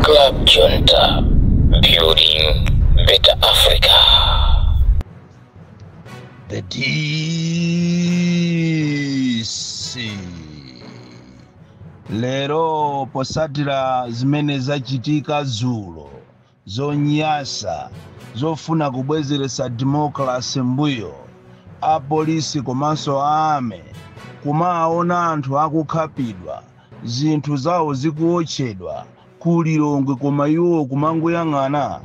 Club Junta, building better Africa. The DC. Lero potsatira zimene zachitika dzulo zonyasa zofuna kubwezeretsa democracy m'mbuyo, a police komanso a army kumawaona anthu akukhapidwa, zinthu zawo zikuotchedwa ku Lilongwe koma iwowo kumangoyang'ana?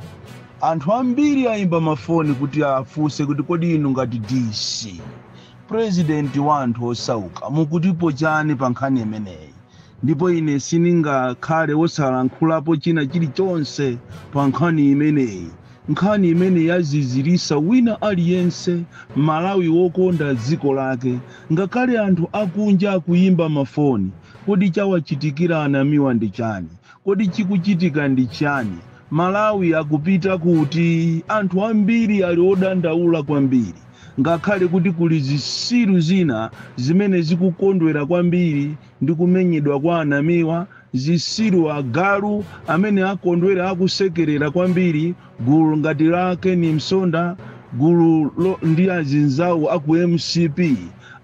Anthu ambiri ayimba mafoni kuti afunse kuti kodi inu ngati DC, president wa anthu osauka mukutipo chani pa nkhani imeneyi? Ndipo ine sindingakhale wosalankhulapo china chirichonse pa nkhani imeneyi, nkhani imene yaziziritsa wina aliyense, Mmalawi wokonda dziko lake. Ngakhale anthu akunja akuyimba mafoni. Kodi chawachitikira a Namiwa ndi chani? Kodi chikuchitika ndi chiyani? Malawi akupita kuti? Anthu ambiri ali odandaula kwambiri. Ngakhale kuti kuli zitsiru zina zimene zikukondwera kwambiri ndi kumenyedwa kwa a Namiwa, zitsiru, agalu, amene akondwera akusekerera kwambiri gulu ngati la Ken Msonda, gululo, ndi azinzawo a ku MCP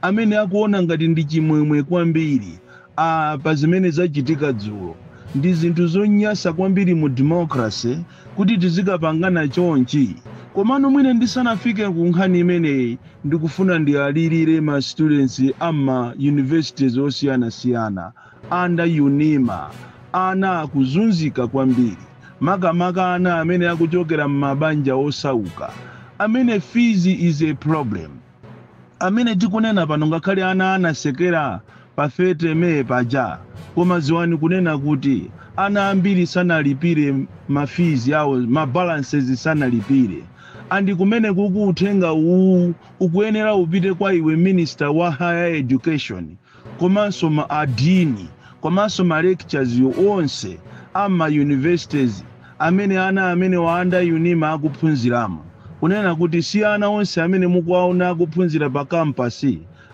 amene akuona ngati ndi chimwemwe kwambiri, Aaa pa zimene zachitika dzulo ndi zinthu zonyasa kwambiri mu democracy kuti tizikhapangana chonchi komano mwina ndisanafike ku nkhani imeneyi ndikufuna ndiwalirire ma students a m'ma universities osiyanasiyana under UNIMA ana akuzunzika kwambiri makamaka ana amene akuchokera m'mabanja osauka amene fees is a problem Amene tikunena pano ngakhale ana anatsekera pa 30 May paja koma dziwani kunena kuti ana ambiri sanalipire ma fees awo ma balances sanalipire and kumenekuku uthenga uwu ukuyenera upite kwa iwe minister wa higher education komanso ma dean komanso ma lecturers onse a m'ma universities amene ana amenewa a under UNIMA akuphunziramo kunena kuti si ana onse amene mukuwaona akuphunzira pa campus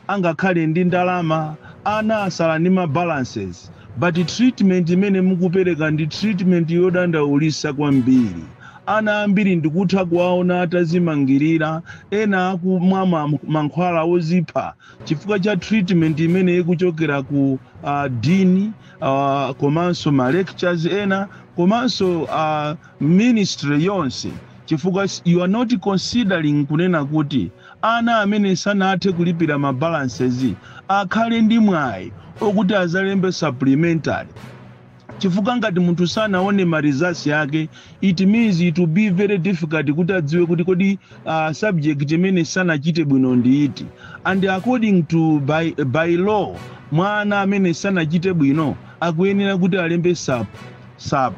angakhale ndi ndalama, ana atsala ndi ma balances but treatment imene mukupereka ndi treatment yodandaulitsa kwambiri, ana ambiri ndikutha kuwaona atadzimangirira, ena akumwa ma mankhwala odzipha. chifukwa cha treatment imene ikuchokera ku uh, dean uh, komanso ma lecturers ena komanso uh, ministry yonse chifukwa s- you are not considering kunena kuti ana amene sanathe kulipira ma balances akhale ndi mwayi okuti azalembe supplementary Chifukwa ngati munthu sanaone ma results ake it means it will be very difficult kuti adziwe kuti kodi a subject imene sanachite bwino ndi iti and according to by by law mwana amene sanachite bwino akuyenera kuti alembe sup sup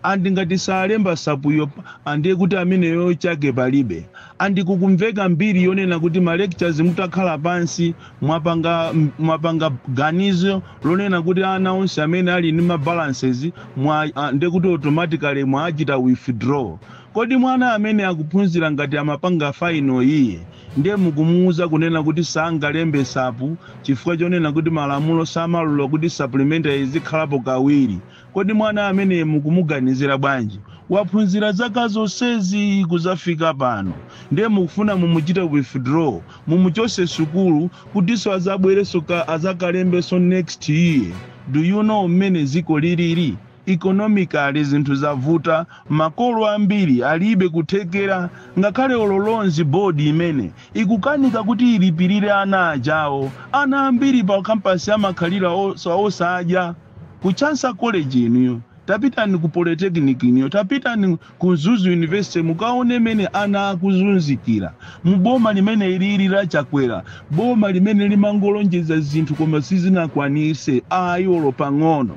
and ngati salemba sup yo ndiye kuti ameneyo chake palibe and kukumveka mbiri yonena kuti ma lecturers mutakhala pansi Mwapanga mwapanga ganizo lonena kuti ana onse amene ali ndi ma balances mwa a, ndekuti automatically mwachita withdraw. Kodi mwana amene akuphunzira ngati amapanga final year nde mukumuuza kunena kuti sangalembe sup chifukwa chonena kuti malamulo samalola kuti supplementary izikhalapo kawiri. Kodi mwana ameneyi mukumuganizira bwanji? Waphunzira zaka zonsezi kuzafika pano nde mukufuna mumuchite withdraw, mumuchose sukulu kutiso azabwereso ka azakalembeso next year? Do you know mmene ziko liliri? Economically zinthu zavuta, makolo ambiri alibe kuthekera ngakhale olo loans board imene ikukanika kuti ilipilire ana achawo. Ana ambiri pa campus amakhalira osadya. Ku Chancellor College inuyo, tapitani ku Polytechnic inuyo, tapitani ku Mzuzu University mukaone mene ana akuzunzikira mu boma limene ilili la Chakwera, boma limene limangolonjeza zinthu koma sizinakwanise ayi olo pang'ono.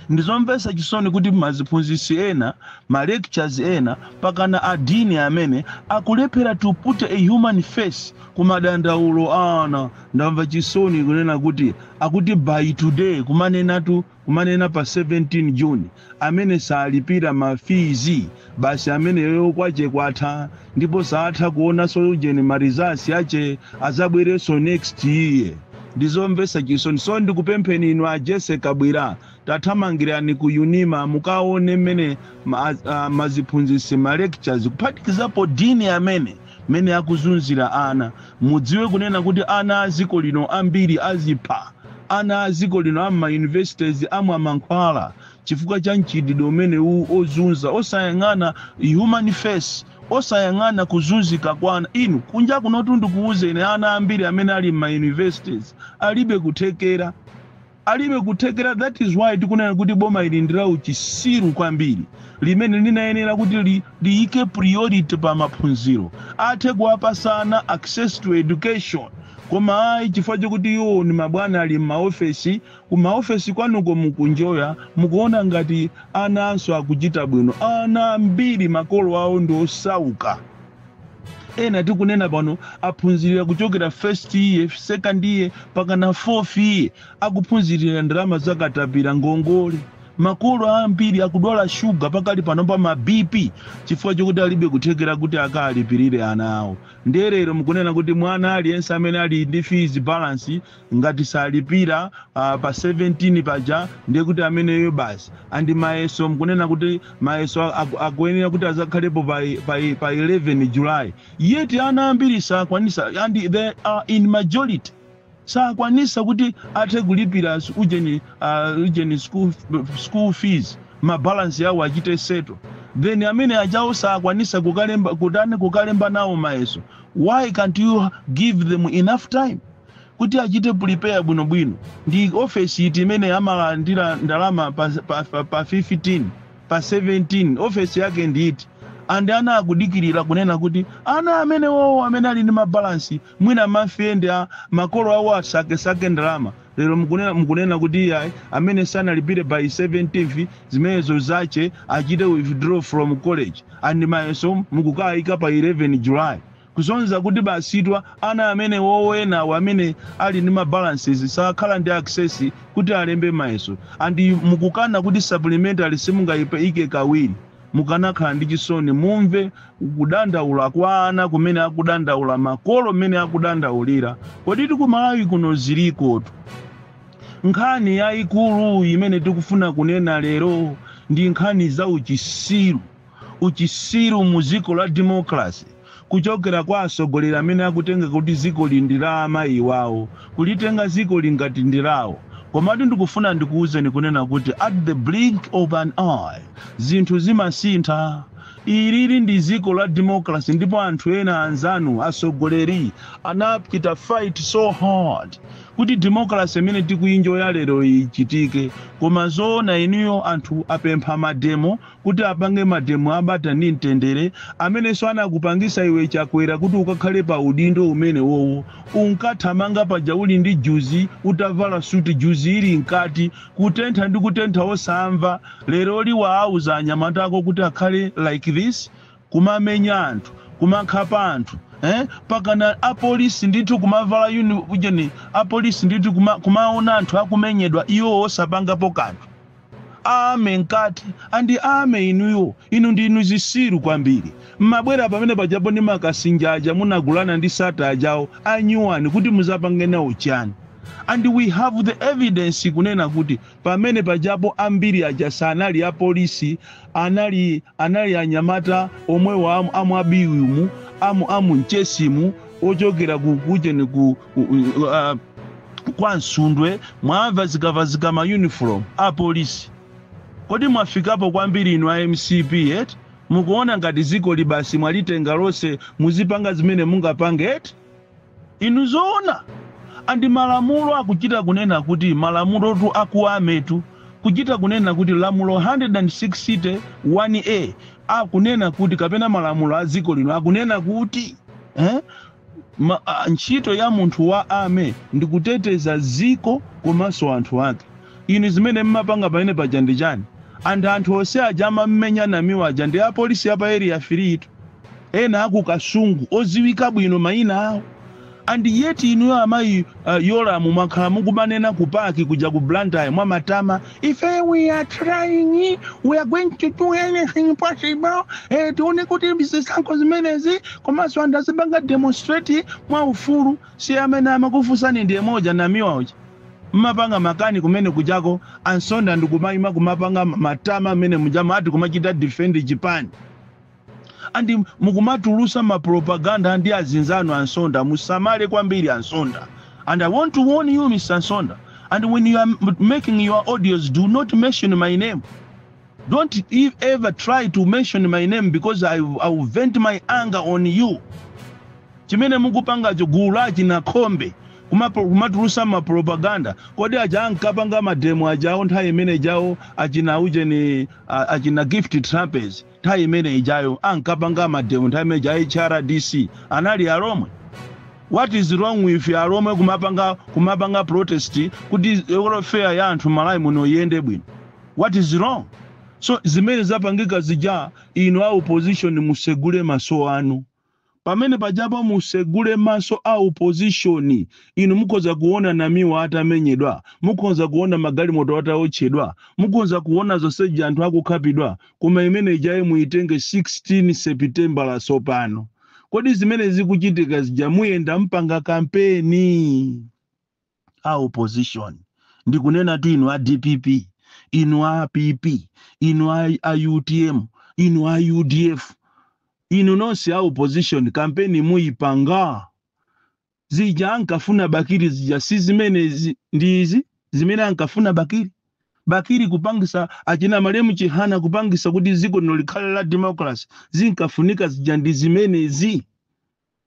Ndizomvesa chisoni kuti aziphunzisi ena, ma lecturers ena mpakana a Dean amene akulephera to put a human face ku madandaulo a ana. Ndamva chisoni kunena kuti Akuti by today kumanenatu kumanena pa 17 June amene salipira ma fees basi ameneyo kwache kwatha ndipo saatha kuonaso ujeni ma results ache azabwereso next year ndizomvesa chisoni so ndikupempheni inu a Jessie Kabwila tathamangirani ku Unima mukaone mmene ma, uh, maziphunzisi ma lecturers kuphatikizapo dean amene mene akuzunzila ana mudziwe kunena kuti ana aziko lino ambili azipha ana aziko lino amma universities amwa mankhwala chifukwa cha mchitidwe umene uwu ozunza osayang'ana human face osayang'ana kuzunzika kwa ana inu kunja kunotu ndikuuzeni ana ambili amene ali mma universities alibe kuthekera Alibe kuthekera that is why tikunena kuti boma ili ndi la uchisiru kwambiri limene linayenera kuti li, liyike priority pa maphunziro athe kuwapasa ana access to education koma ayi chifukwa chokuti iwo ni mabwana ali m'maofesi ku maofesi kwanuko mukunjoya mukuona ngati ananso akuchita bwino ana ambiri makolo awo ndi osauka ena tikunena pano aphunzirira kuchokera first year second year mpakana fourth year akuphunzirira ndalama zakatapira ngongole makolo ambiri akudwala shuga pakali pano pa ma bp chifukwa chokuti alibe kuthekera kuti akalipirire ana awo nde lero mukunena kuti mwana aliyense amene ali ndi fees balance Ngati salipira uh, pa 17 paja ndiye kuti ameneyo basi and mayeso mukunena kuti mayeso akuyenera kuti azakhalepo pa, pa, pa 11 July yet ana ambiri sakwanisa and they are in majority sakwanisa kuti athe kulipira ujeni, uh, ujeni school, school fees mabalansi yawo achite settle then amene ajawo sakwanisa kukalemba nawo mayeso why can't you give them enough time kuti achite prepare bwinobwino ndi ofesi iti imene amalandira ndalama pa, pa, pa, pa 15 pa 17 ofesi yake ndi iti and ana akudikirira kunena kuti ana amenewowo amene ali ndi mabalansi mwina ma friend a makolo awo asakesake ndalama lero mukunena, mukunena kuti iyayi amene sanalipire by 17th zimenezo zache achite withdraw from college and mayeso mukukayika pa 11 july Kusonyeza kuti basitu ana amenewowo enawa amene ali ndi ma balances sakhala ndi access kuti alembe mayeso and mukukana kuti supplementary simungayiike kawiri mukanakhala ndi chisoni mumve kudandaula kwa ana kumene akudandaula makolo mmene akudandaulira koditu ku Malawi kuno zilikotu nkhani yayikulu imene tikufuna kunena lero ndi nkhani za uchisiru. uchisiru mu ziko la democracy kuchokera kwa asogoleri amene akutenga kuti zikoli ndi la amayi wawo kulitenga zikoli ngati ndi lawo komatu ndikufuna ndikuuzeni kunena kuti at the blink of an eye zinthu zimasintha ilili ndi ziko la democracy ndipo anthu ena anzanu asogoleri anachita fight so hard kuti democracy imene tikuyinjoya lero ichitike koma zoona inuyo anthu apempha mademo kuti apange mademo abata ndi mtendere amenenso anakupangisa iwe chakwera kuti ukakhale pa udindo umenewowo unkathamanga paja uli ndi juzi utavala suti juzi ili mkati kutentha ndi kutentha osamva leroli waauza anyamata ako kuti akhale like this kumamenya anthu kumakhapa anthu eh mpakana apolisi ndithu kumavala uni ujeni apolisi ndithu kuma, kumaona anthu akumenyedwa iwo osapangapo kanthu Army mkati and army inuyo inu ndinu zisiru kwambiri mmabwera pamene pajapo ndi makasinja aja munagulira ndi Sattar ajawo anyuwani kuti muzapange nawo chani and we have the evidence kunena kuti pamene pajapo ambiri aja sanali a police anali anali anyamata omwewo amu amu abiwi mu amu amu nchesimu ochokera ku kujeni ku u- u- uh, kwa msundwe mwavazikavazika ma uniform a polisi kodi mwafikapo kwambiri inu a mcp eti mukuona ngati dzikoli basi mwalitenga lonse muzipanga zimene mungapange eti inu zoona and malamulo akuchita kunena kuti malamulotu akuwametu kuchita kunena kuti lamulo 160 1a akunena kuti kapena malamulo a dziko lino akunena kuti eh? Ma, a, ntchito ya munthu wa Army ndi kuteteza dziko komanso anthu ake. Inu zimene mmapanga pamene paja ndi chani? And anthu onse aja amammenya Namiwa aja ndi a Police ya pa Area 30. Ena a ku Kasungu odziwika bwino maina awo. And yet inuyo amayi, a, Yolamu mwakhala mukumanena ku PAC kuja ku Blantyre mwamatama Ife we are trying, we are going to do anything possible eh, tione kuti zisankho zimenezi komanso anthu azipanga demonstrate mwa ufulu si amene amakufunsani ndi yemwe uja Namiwa uja mmapanga makani kumene kujako ansonda ndikumayima kumapanga matama mmene muja maati kumachita defend chipani And mukumatulusa ma propaganda ndi azinzanu a Nsonda musamale kwambiri a Nsonda and I want to warn you Mr. Nsonda and when you are making your audios do not mention my name don't e- ever try to mention my name because I, I will vent my anger on you chimene mukupangacho gulu la achina khombe kumapo- kumatulusa mapropaganda kodi aja ankapanga mademo ajawo nthawi imene jawo achina ujeni a- achina Gift Trapence nthawi imene ijayo ankapanga mademo nthawi imene ija hrdc anali alomwe what is wrong with alomwe kumapanga kumapanga protest kuti welfare ya anthu malawi muno iyende bwino what is wrong so zimene zapangika zija inu a opposition musegule maso anu Pamene apapa musegule maso a opposition inu mukhoza kuona Namiwa atamenyedwa, mukhonza kuona magalimoto ataotchedwa, mukhonza kuona zonse zija anthu akukhapidwa koma imene ijayi muitenge 16 sepitembala tsopano. Kodi zimene zikuchitika zija muyenda mpanga kampeni? a opposition ndikunenatu inu a dpp inu a pp inu a, a utm inu a udf inu nonse a opposition kampeni muyipanga zija ankafuna bakiri zija si zimenezi ndi izi zimene ankafuna bakiri bakiri kupangisa achina malemu chihana kupangisa kuti dziko lino likhale la democracy zinkafunika zija ndi zimenezi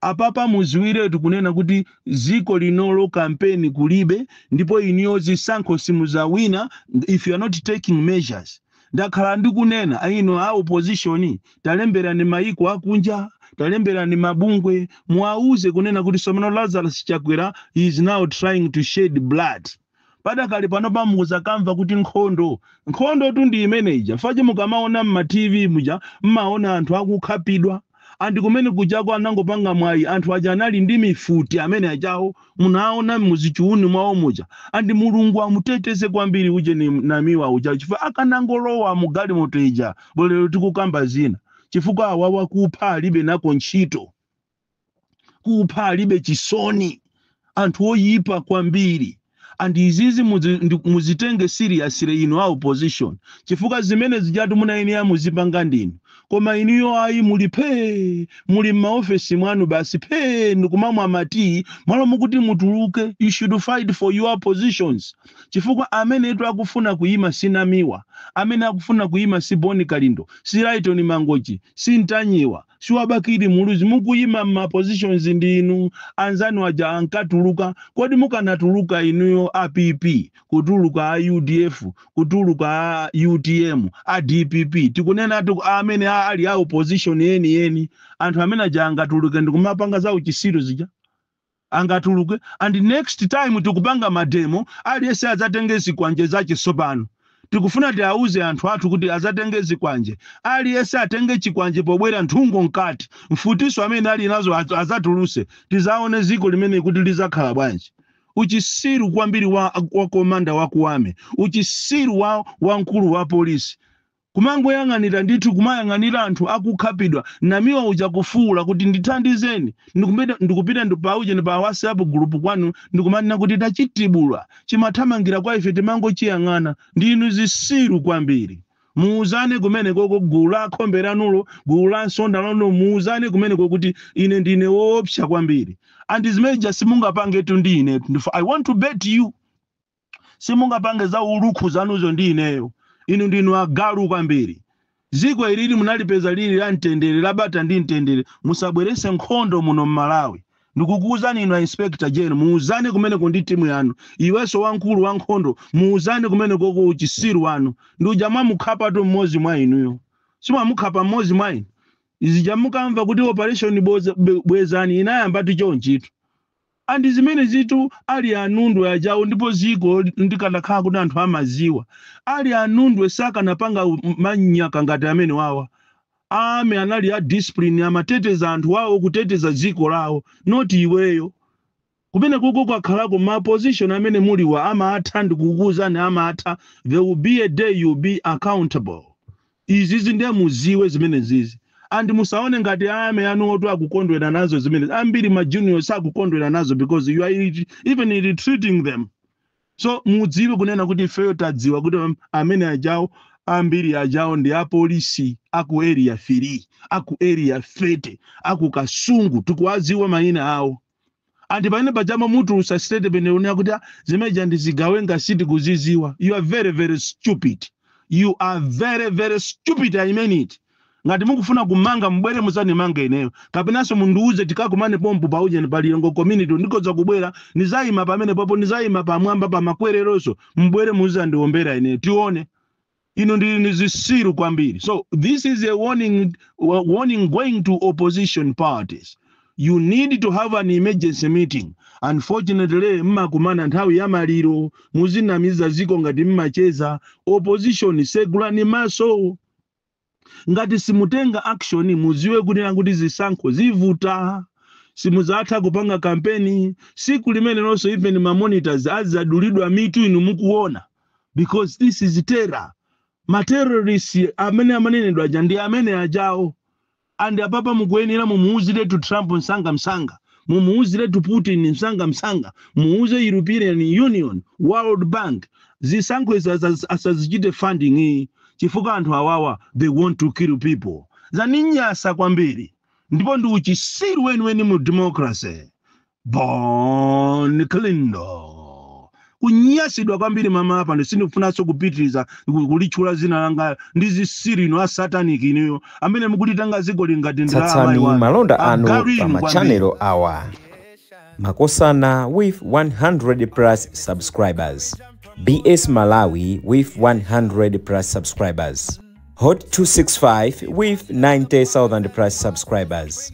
Apapa muziwiretu kunena kuti ziko linolo kampeni kulibe ndipo inuyo zisankho simuzawina if you are not taking measures. Ndakhala ndikunena inu a opposition talemberani mayiko akunja, talemberani mabungwe muwawuze kunena kuti somano Lazarus Chakwera is now trying to shed blood. Padakali pano pa mukuzamva kuti nkhondo. Nkhondo tu ndi imene ija. Paja mukamaona mma TV muja mmaona anthu akukhapidwa. And kumene kujako anangopanga mwayi anthu aja anali ndi mifuti amene ajawo munaona muzichuunu mwawo muja. And Mulungu amuteteze kwambiri uje ni Namiwa uja chifukwa akanangolowa mu galimoto ija bwenzi lero tikukamba zina. Chifukwa awawa kupha alibe nako ntchito. kupha alibe chisoni anthu oyipa kwambiri and izizi muzitenge seriously inu a opposition chifukwa zimene zijatu munayeneya muzipanga ndinu koma inuyo ayi muli phee muli m'maofesi mwanu basi phee ndikumamwa matii mmalo mokuti mutuluke you should fight for your positions chifukwa amenetu akufuna kuyima si namiwa amene akufuna kuyima si boni kalindo si laitoni mangochi si ntanyiwa si wa bakili muluzi mukuyima ma positions ndi inu anzanu aja ankatuluka kodi mukanatuluka inuyo a pp kutuluka a udf kutuluka a utm a dpp tikunenatu amene ali a opposition yeniyeni anthu amene aja angatuluke ndikumapanga za uchisiru zija angatuluke and next time tikupanga mademo aliyense adzatenge zikwanje zache sopano tikufuna tiauze anthu athu kuti adzatenge zikwanje aliyense atenge chikwanje pobwera nthungo mkati mfutiso amene ali nazo adzatuluse tizaone ziko limeneli kuti lizakhala bwanji uchisiru kwambiri wa komanda wa ku army uchisiru wa mkulu wa polisi Kumangoyang'anira ndithu kumayang'anira anthu akukhapidwa namiwa uja kufuula kuti ndithandizeni ndikupita ndi pa ujeni pa whatsapp group kwanu ndikumanena kuti tachitibula chimathamangira kwa ife timangochiyang'ana ndinu zisiru kwambiri muuzane kumenekoko gulu la akhombe lanulo gulu la nsonda lanulo muuzane kumeneko kuti ine ndine woopsa kwambiri and zimene zija simungapangetu ndi inetu ndipo I want to bet you simungapange za ulukhukhu zanuzo ndi ineyo. Inu ndinu agalu kwambiri. Dziko ilili munalipeza lili la mtendere, la bata ndi mtendere. Musabweretse nkhondo muno m'Malawi. Ndikukuuzani inu a Inspector General, muuzane kumeneko ndi timu yanu. Iwenso wamkulu wa nkhondo, muuzane kumenekoko uchisiru wanu. Ndi uja mwamukhapatu mmodzi mwa inuyo. Simwamukhapa mmodzi mwa inu. Zija mukamva kuti operation Boza- Be- bwezani inayambatu chonchitu. And zimenezitu ali a Nundwe ajawo ndipo ziko ndikanakhala kuti anthu amaziwa. Ali a Nundwe sakanapanga manyaka ngati amenewawa. A army anali a discipline amateteza anthu awo kuteteza ziko lawo not iweyo. Kumenekoko kwakhalako ma position amene muliwa amatha ndikukuuzani amatha there will be a day you will be accountable. izizi nde muziwe zimenezizi and musaone ngati army anuwotu akukondwera nazo zimenezi ambiri ma junior sakukondwera nazo because you are re- even ill-treating them so mudziwe kunena kuti ifeyo tadziwa kuti am- amene ajawo ambiri ajawo ndi apolisi aku area 3 aku area 30 aku kasungu tikuwadziwa mayina awo and pamene paja mumatulusa statement yonena kuti "Ah, zimene zija ndi zigawenga sitikuziziwa you are very very stupid you are very very stupid i mean it ngati mukufuna kumanga mubwere muzanimanga ineyo kapenanso mundiuze tikakumane pompo pa ujeni pa Lilongwe community ndikoza kubwera nizayima pamene papo nizayima pamwamba pa makwereronso mubwere muzandiombera ineyo tione inu ndinu ndi zisiru kwambiri so this is a warning, wa- warning going to opposition parties you need to have an emergency meeting unfortunately mmakumana nthawi ya maliro muzinamiza ziko ngati mmacheza opposition segulani maso ngati simutenga action muziwe kunena kuti zisankho zivuta simuzatha kupanga kampeni siku limenelonso even ma monitors azadulidwa mitu inu mukuona because this is terror ma terrorists amene amanenedwa aja ndi amene ajawo and apapa mukuyenera mumuuziretu trump msanga msanga mumuuziretu putin msangamsanga muuze european union world bank zisankho izi asaz- asazichite funding iyi chifukwa anthu awawa they want to kill people zaninyasa kwambiri ndipo ndi uchisiru weniweni mu democracy Bon Kalindo kunyasidwa kwambiri mama apa ndi sindikufunanso kupitiriza ku- kulitchula zina langa ndi zitsiru inu asataniki inuyo amene mukutitenga dziko lino ngati ndi la amayi tsatsani wanu malonda anu agalu pa inu kwambiri machanelo awa makosana with 100 plus subscribers bs malawi with 100 plus subscribers hot 265 with 90000 plus subscribers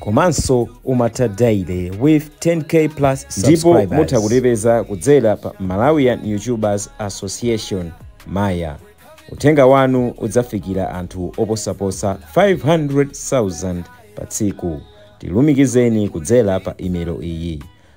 komanso umatha daily with 10k plus ndipo mutha kutipeza kudzera pa malawian youtubers association maya uthenga wanu udzafikira anthu oposaposa 500,000 pa tsiku tilumikizeni kudzera pa imelo iyi